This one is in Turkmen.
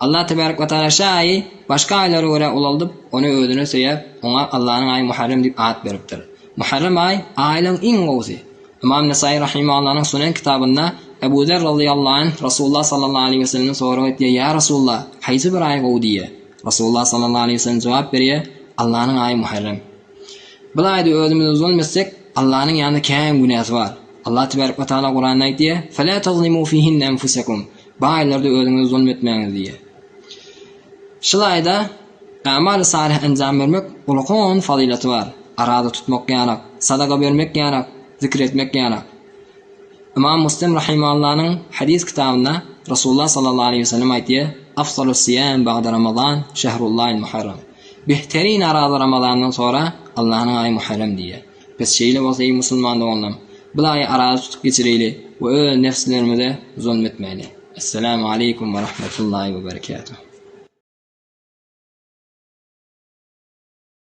Allah tebärek we tagala şä aýy başga aýlara görä ulaldyp, ony özüne söýäp, oňa Allanyň aýy Muharrem diýip at beripdir. Muharrem aýy, aýlaryň iň gowusy. Ymam Nesaýy rahimahallanyň Sunen kitabynda Ebu Zer razyýallahu anh Resulullah sallallahu aleýhi we sellemden sorag etýär, Ýa Resulullah, haýsy bir aý gowy diýýär. Resulullah sallallahu aleýhi we sellem jogap berýär, Allanyň aýy Muharrem. Bil aýda özümizi zulum etsek, Allanyň ýanynda käýiň günäsi bar. Allah tebärek we tagala Kuranda aýdýar, Felâ tazlimû fîhinne enfusekum, Baýlar-da özüňize zulum etmäňiz diýýär. Şul aýda Amaly salyh enjam bermek ulakan fazylaty bar. Araza tutmak ýanak, sadaka bermek ýanak, zikir etmek ýanak. Ymam Muslim rahimallanyň hadys kitabynda Resulullah sallallahu aleýhi we sellem aýtýar, Afzalus siýam bagda Ramazan, şehrullahil muharram. Behterine araza Ramazandan sonra Allahnyň aýy Muharrem diýýär. Pes şeýle bolsa eý musulman doganlarym! Bir aýy araly tutup geçireýli we öz nebslerimize zulum etmäýli. Essalamu aleýkum we rahmetullahi we berekatuh.